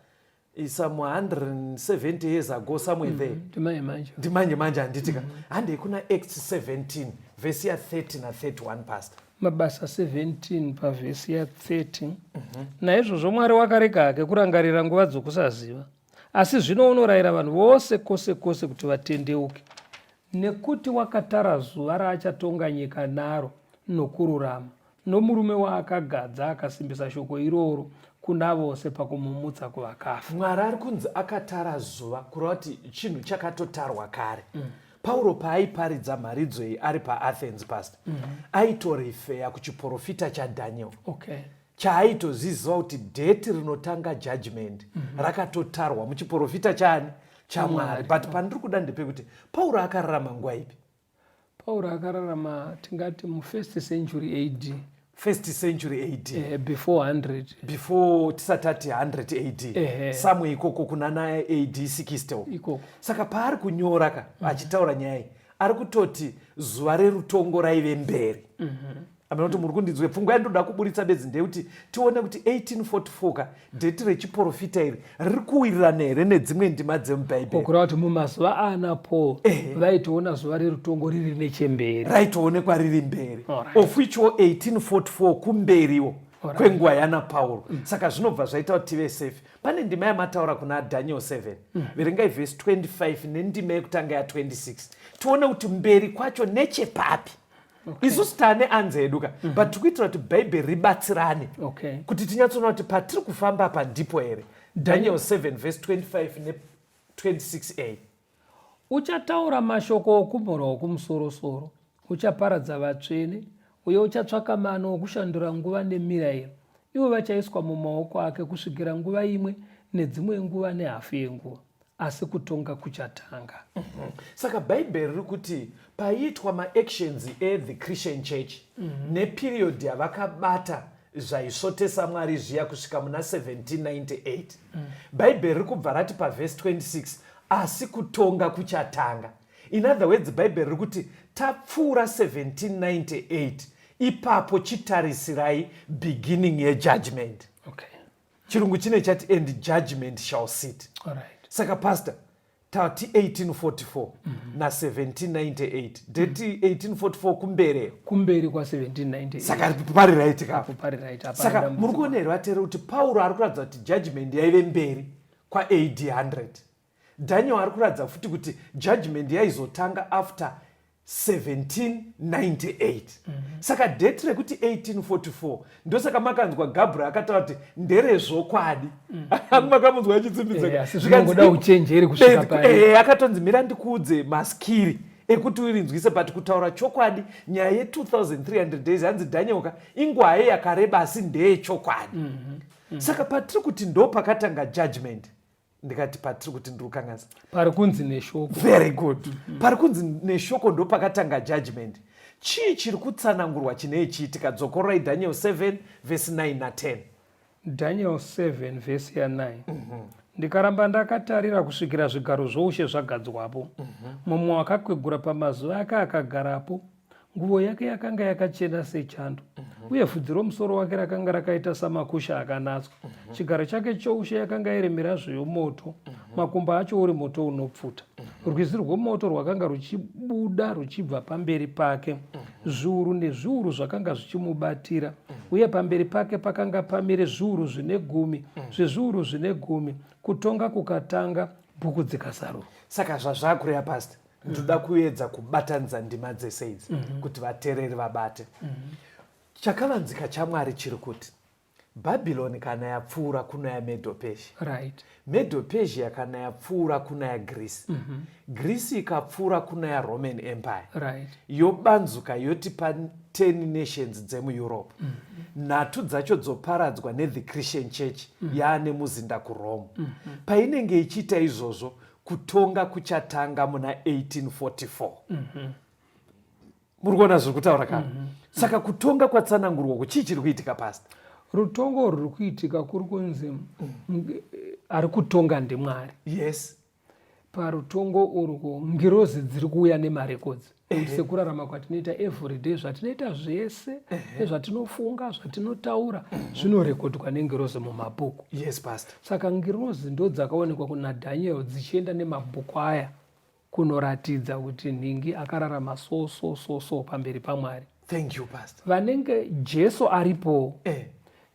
eh, some 170 years ago somewhere mm, there ndimanje manje handiti ka mm. handei kuna act 17 vhesi ya 30 na 31 pastor mabasa 17 pavhesi ya 30 mm -hmm. naizvozvo mwari wakarega hake kurangarira nguva dzokusaziva asi zvino unorayira vanhu vose kwose kwose kuti vatendeuke nekuti wakatara zuva raachatonga nyika naro nokururama nomurume waakagadza akasimbisa shoko iroro kuna vose pakumumutsa kuvakafa mwari ari kunzi akatara zuva kureva kuti chinhu chakatotarwa kare mm. pauro paaiparidza mharidzo iyi ari paathens past mm -hmm. aitorefeya kuchiprofita chadaniel okay chaaitoziziva kuti dheti rinotanga judgment mm -hmm. rakatotarwa muchiprofita chani chamwari but pandiri kuda ndepekuti pauro akararama nguva ipi Pauro akararama tingati mufirst century AD. First century AD. Eh, before 100. Before tisati ati 100 AD. Eh, Samwe ikoko kuna na AD 60 uko. Ikoko. Saka paari kunyora ka mm. achitaura nyaya iyi ari kutoti zuva rerutongo raive mberi. Mm -hmm. amene kuti muri kundinzwe pfungwa yandoda kuburitsa bedzi ndeyekuti tione kuti 1844 ka dheti rechiporofita iri riri kuwirirana here nedzimwe ndima dzemubhaibheri kureva kuti mumazuva aana paul vaitoona zuva rerutongo riri nechemberi raitoonekwa riri mberi of which wo 1844 kumberiwo kwenguva yana pauro mm. saka zvinobva zvaita kuti tive safe pane ndima yamataura kuna daniel 7 mm. verengai vhesi 25 nendima yekutanga ya 26 tione kuti mberi kwacho nechepapi okay. isusu tane anzi edu ka mm -hmm. but tiri kuitira kuti bhaibheri ribatsirane okay. kuti tinyatsoona kuti patiri kufamba apa ndipo here daniel 7 vhesi 25 ne 26a uchataura mashoko okumhura okumusorosoro uchaparadza vatsvene uye uchatsvaka mano okushandura nguva nemirayiro ivo vachaiswa mumaoko ake kusvikira nguva imwe nedzimwe nguva nehafu yenguva asi kutonga kuchatanga mm -hmm. saka bhaibheri riri kuti paiitwa maactions ethe christian church mm -hmm. neperiod yavakabata zvaisvotesa mwari zviya kusvika muna 1798 mm. bhaibheri riri kubva rati pavhesi 26 asi kutonga kuchatanga in other words bhaibheri riri kuti tapfuura 1798 ipapo chitarisirai beginning yejudgment okay. chirungu chine chati and judgment shall sit Alright. saka pastor tati 1844 mm -hmm. na 1798 deti mm -hmm. 1844 kumberi kumberi kwa 1798 saka pari right kapo pari right apa saka muri kuona here vatera kuti pauro ari kuratidza kuti judgment yaive mberi kwa AD 100 Daniel ari kuratidza futi kuti judgment yaizotanga after 1798 mm -hmm. saka date rekuti 1844 ndosaka makanzwa gabriel akataura kuti nderezvokwadi mm -hmm. makamunzwa achitsimbidzaakatonzi mira ndikuudze maskiri ekuti urinzwise but kutaura chokwadi nyaya ye2300 days hanzi dhanyoka ingwaye yakareba asi ndeyechokwadi mm -hmm. mm -hmm. saka patiri kuti ndo pakatanga judgment ndikati patiri kuti ndiri kukanganisa pari kunzi neshoko very good mm-hmm. pari kunzi neshoko ndo pakatanga judgment chii chiri kutsanangurwa chinei chiitika dzokorai daniel 7 vhesi 9 na10 daniel 7 vhesi ya9 mm -hmm. ndikaramba ndakatarira kusvikira zvigaro zvoushe zvagadzwapo mm -hmm. mumwe wakakwegura pamazuva ake akagarapo Nguvo yake yakanga yakachena sechando, mhm. uye vhudzi romusoro wake rakanga rakaita samakusha akanatswa. Mhm. Chigaro chake choushe yakanga iri mirazvo yomoto, mhm. makumba acho uri moto unopfuta. Rwizi rwomoto rwakanga ruchibuda ruchibva pamberi pake, zviuru nezviuru zvakanga zvichimubatira, uye pamberi pake pakanga pamire zviuru zvine gumi zvezviuru zvine gumi, kutonga kukatanga, bhuku dzikasarurwa. Saka zvazvakureva pasta ndoda kuedza kubatanidza ndima dzese idzi mhm. kuti vatereri vabate mhm. chakavanzika chamwari chiri kuti bhabhironi kana yapfuura kuna yamedo persia right. medo persia kana yapfuura kuna yagrisi mm -hmm. grisi ikapfuura kuna yaroman empire right. yobanzuka yoti pa 10 nations dzemueurope mm -hmm. nhatu dzacho dzoparadzwa nethe christian church mm -hmm. yaane muzinda kurome mm -hmm. painenge ichiita izvozvo kutonga kuchatanga muna 1844 mm -hmm. muri kuona zviri kutaura kana mm -hmm. saka kutonga kwatsanangurwa uku chii chiri kuitika pasi rutongo ruri kuitika kuri kunzi mm. ari kutonga ndimwari yes parutongo urwo ngirozi dziri kuuya nemarekodzi sekurarama kwatinoita everyday zvatinoita zvese nezvatinofunga zvatinotaura zvinorekodwa nengirozi mumabhuku yes pastor saka ngirozi ndo dzakaonekwa kuna daniel dzichienda nemabhuku aya kunoratidza kuti nhingi akararama so so so so pamberi pamwari thank you pastor vanenge jesu aripowo eh.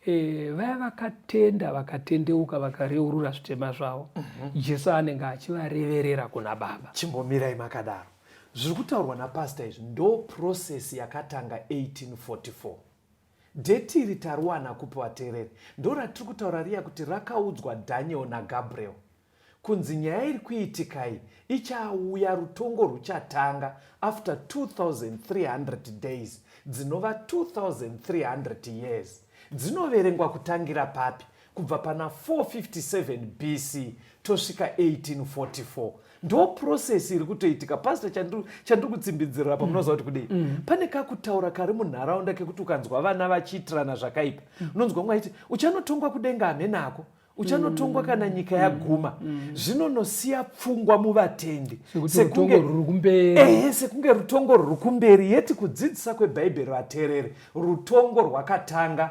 E, vaya vakatenda vakatendeuka vakareurura zvitema zvavo mm -hmm. jesu anenge achivareverera kuna baba chimbomirai makadaro Zviri kutaurwa napastor izvi ndo process yakatanga 1844. Date iri tariwana kupi vateereri? Ndo ratiri kutaura riya kuti rakaudzwa Daniel naGabriel kunzi nyaya iri kuitikai ichauya rutongo rwuchatanga after 2300 days dzinova 2300 years dzinoverengwa kutangira papi kubva pana 457 bc tosvika 1844 ndo process iri kutoitika pastor chandiri kutsimbidzirira apa munoziva kuti kudei mm. mm. pane kakutaura kari munharaunda kekuti ukanzwa vana vachiitirana zvakaipa mm. unonzwa mwe aiti uchanotongwa kudenga hamenako uchanotongwa mm. kana nyika yaguma zvinonosiya pfungwa muvatendi sekunge rutongo ruri kumberi yeti kudzidzisa kwebhaibheri vatereri rutongo rwakatanga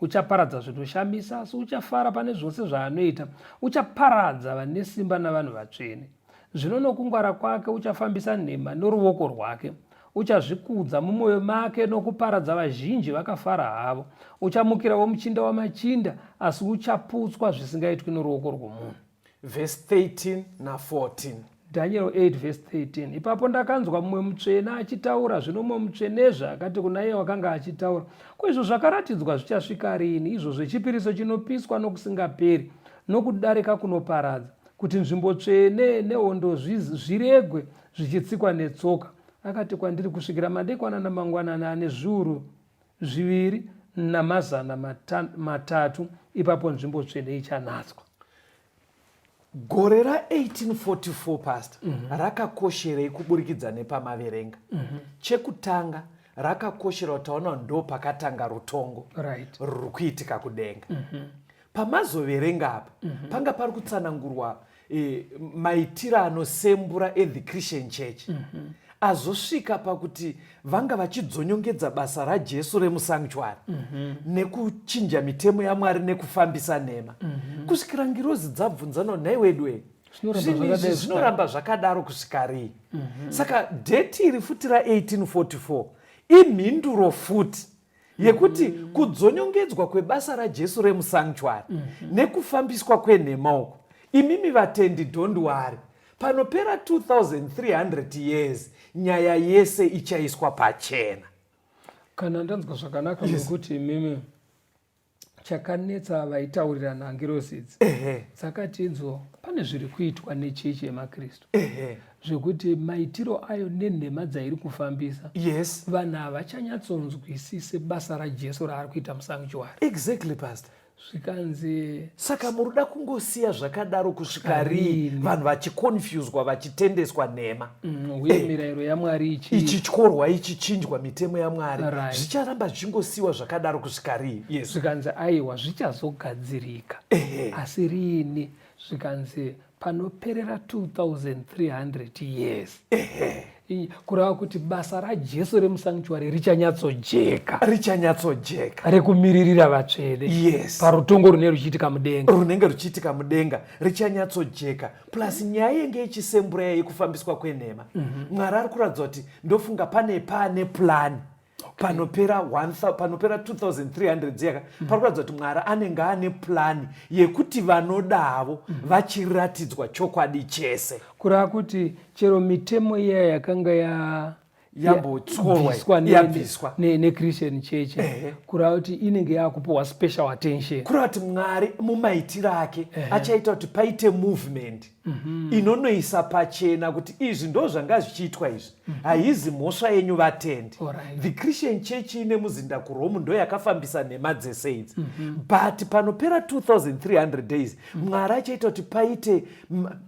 Uchaparadza zvinoshamisa, asi uchafara pane zvose zvaanoita. Uchaparadza vane simba navanhu vatsvene. Zvino nokungwara kwake uchafambisa nhema noruoko rwake. Uchazvikudza mumwoyo make nokuparadza vazhinji vakafara havo. Uchamukira womuchinda wamachinda, asi uchaputswa zvisingaitwi noruoko rwomunhu. Verse 13 na 14. Daniel 8 verse 13 ipapo ndakanzwa mumwe mutsvene achitaura zvino mumwe mutsvenezve akati kuna iye wakanga achitaura ko izvo zvakaratidzwa zvichasvika rini izvo zvechipiriso chinopiswa nokusingaperi nokudarika kunoparadza kuti nzvimbo tsvene nehondo zviregwe zvichitsikwa netsoka akati kwandiri kusvikira madekwana namangwanana ane zviuru zviviri namazana mata, matatu ipapo nzvimbo tsvene ichanatswa gore ra1844 past mm -hmm. rakakosherei kuburikidza nepamaverenga mm -hmm. chekutanga rakakoshera kuti taona ndo pakatanga rutongo right. ruri kuitika kudenga mm -hmm. pamazoverenga apa mm -hmm. panga pari kutsanangurwa e, maitiro anosembura ethe christian church mm -hmm. azosvika pakuti vanga vachidzonyongedza basa rajesu remusanctuary mm -hmm. nekuchinja mitemo yamwari nekufambisa nhema mm -hmm. kusvikira ngirozi dzabvunzano nhai wedwei zvinizvi zvinoramba zvakadaro kusvika rii mm -hmm. saka dheti iri futi ra1844 imhinduro futi yekuti mm. kudzonyongedzwa kwebasa rajesu remusanctuary mm -hmm. nekufambiswa kwenhema uko imimi vatendi don't worry panopera 2300 years nyaya yese ichaiswa pachena kana ndanzwa zvakanaka nekuti yes. imimi chakanetsa vaitaurirana ngirosi idzi dzakatinzwa pane zviri kuitwa nechechi yemakristu zvekuti maitiro ayo nenhema dzairi kufambisa yes vanhu havachanyatsonzwisise basa rajesu raari kuita musanctuary exactly pastor zvikanzi saka muri da kungosiya zvakadaro kusvika rii vanhu vachikonfuswa vachitendeswa nhema Mm, uye eh, mirayiro yamwari ichi ichi tyorwa ichi chinjwa mitemo yamwari zvicharamba right. zvingosiyiwa zvakadaro kusvika rii yes. zvikanzi aiwa zvichazogadzirika asi riini zvikanzi panoperera 2300 years kureva kuti basa rajesu remusanktuary richanyatsojeka richanyatsojeka rekumiririra vatsvene yes. parutongo rune ruchiitika mudenga runenge ruchiitika mudenga richanyatsojeka plus nyaya yenge ichisembura iya yekufambiswa kwenhema mhm. mwari ari kuratidza kuti ndofunga pane pane plani panopera panopera 2300 dziyaka mhm. pari kuratidza kuti mwari anenge ane plani yekuti vanodavo mhm. vachiratidzwa chokwadi chese kureva kuti chero mitemo iya yakanga ya yambotyorwayabviswa nechristian church kureva kuti inenge yakupiwa special attention kureva kuti mwari mumaitiro ake achaita kuti paite movement mhm. inonoisa pachena kuti izvi ndo zvanga zvichiitwa izvi mhm. haizi mhosva yenyu vatendi the christian church ine muzinda kuromu ndo yakafambisa nhema dzese idzi mhm. but panopera 2300 days mwari achaita kuti paite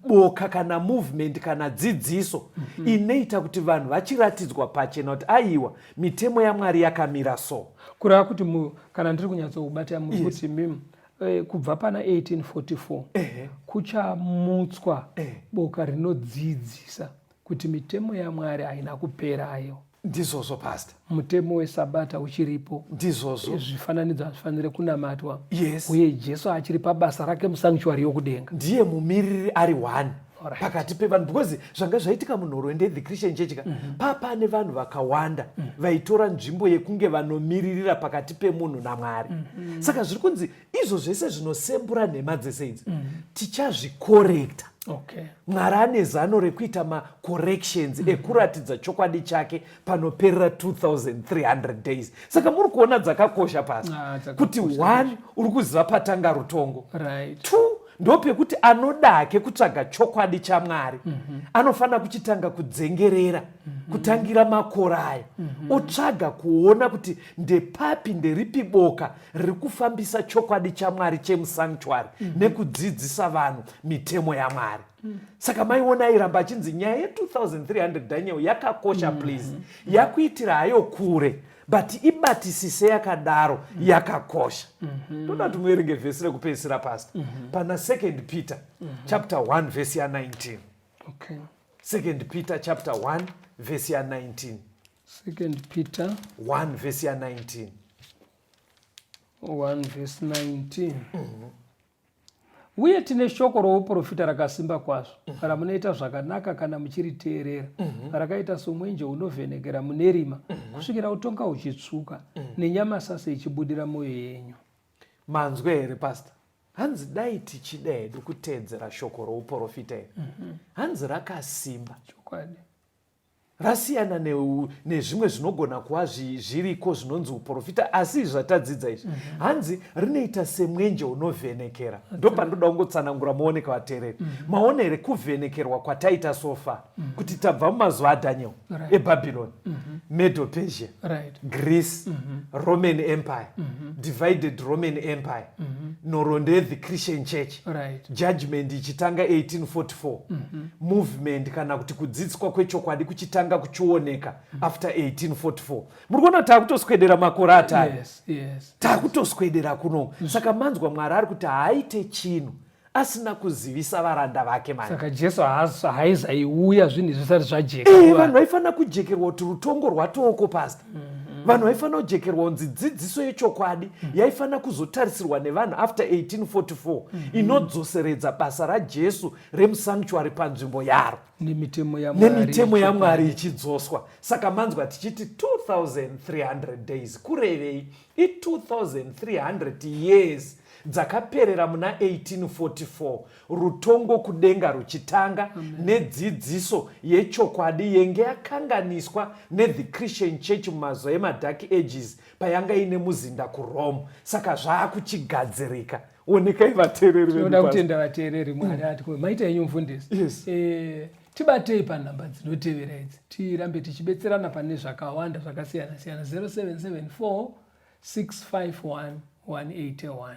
boka kana movement kana dzidziso mm -hmm. inoita kuti vanhu vachiratidzwa pachena kuti aiwa mitemo yamwari yakamira so kureva kuti mu, kana ndiri kunyatsoubata muri yes. kuti mim eh, kubva pana 1844 eh. kuchamutswa eh. boka rinodzidzisa Kuti mitemo yaMwari haina kupera ayo. Ndizvozvo pastor. Mutemo wesabata uchiripo. Ndizvozvo. Eh, zvifananidzo hazvifanire kunamatwa. Yes. Uye Jesu achiri pabasa rake musanctuary yokudenga. Ndiye mumiriri ari one right. pakati pevanhu because zvanga zvaitika munhorwende the christian church ka mm -hmm. papane vanhu vakawanda mm -hmm. vaitora nzvimbo yekunge vanomiririra pakati pemunhu namwari mm -hmm. saka zviri kunzi izvo zvese zvinosembura nhema dzese idzi mm. tichazvikorekta okay. mwari ane zano rekuita macorrections mm. ekuratidza chokwadi chake panoperera 2300 days saka muri kuona dzakakosha pasi ah, kuti one uri kuziva patanga rutongo right. two ndopekuti anodake kutsvaga chokwadi chamwari mm -hmm. anofanira kuchitanga kudzengerera mm -hmm. kutangira makora ayo mm -hmm. otsvaga kuona kuti ndepapi nderipi boka riri kufambisa chokwadi chamwari chemusanctuary mm -hmm. nekudzidzisa vanhu mitemo yamwari mm. saka maiona airamba achinzi nyaya ye2300 daniel yakakosha mm -hmm. please mm -hmm. yakuitira hayo kure but ibatisise yakadaro mm -hmm. yakakosha mm -hmm. toda kuti muerenge vhesi rekupedzisira pasta mm -hmm. pana second peter mm -hmm. chapter 1 vhesi ya19 okay. second peter chapter 1 vhesi ya 19 Second Peter 1 verse ya 19. 1 verse 19. Mm -hmm. Uye tine shoko rouprofita rakasimba kwazvo mm -hmm. ramunoita zvakanaka kana muchiriteerera mm -hmm. rakaita somwenje unovhenekera mune rima mm -hmm. kusvikira utonga uchitsvuka mm -hmm. nenyama sasa ichibudira mwoyo yenyu. Manzwe here pastor? hanzi dai tichida hedu kuteedzera shoko rouprofita iri mm -hmm. hanzi rakasimba chokwadi rasiyana nezvimwe zvinogona kuva zviriko zvinonzi uprofita asi izvi zvatadzidza izvi mm -hmm. hanzi rinoita semwenje unovhenekera okay. ndo pandoda kungotsanangura muoneka vatereri mm -hmm. maona here kuvhenekerwa kwataita sofa mm -hmm. kuti tabva mumazuva adaniel right. ebabyloni mm -hmm. medo persia right. greece mm -hmm. roman empire mm -hmm. divided roman empire mm -hmm. nhorondo yethe christian church right. judgment ichitanga 1844 mm -hmm. movement kana kuti kudzidziswa kwechokwadi kuchitanga kuchioneka mm -hmm. after 1844 muri kuona kuti taakutoswedera makore atari yes, yes, taakutoswedera yes. kuno mm. saka manzwa mwari ari kuti haaite chinhu asina kuzivisa varanda vake manisaka jesu haaiuya zvinhu zvisati zvajeka eh, vanhu vaifanira kujekerwa kuti rutongo rwatooko pasta Mhm. vanhu vaifanira kujekerwa kunzi dzidziso yechokwadi mhm. yaifanira kuzotarisirwa nevanhu after 1844 mhm. inodzoseredza basa rajesu remusanctuary panzvimbo yaro nemitemo yamwari ichidzoswa saka manzwa tichiti 2300 days kurevei i2300 years dzakaperera muna 1844 rutongo kudenga ruchitanga nedzidziso yechokwadi yenge yakanganiswa nethe christian church mumazuva emadark ages payanga ine muzinda kurome saka zvaakuchigadzirika onekai vateereri venoda kutenda vateereri mwari ati ko maita yenyu mfundisi eh, tibatei panhamba dzinotevera idzi tirambe tichibetserana pane zvakawanda zvakasiyana siyana 0774 651 181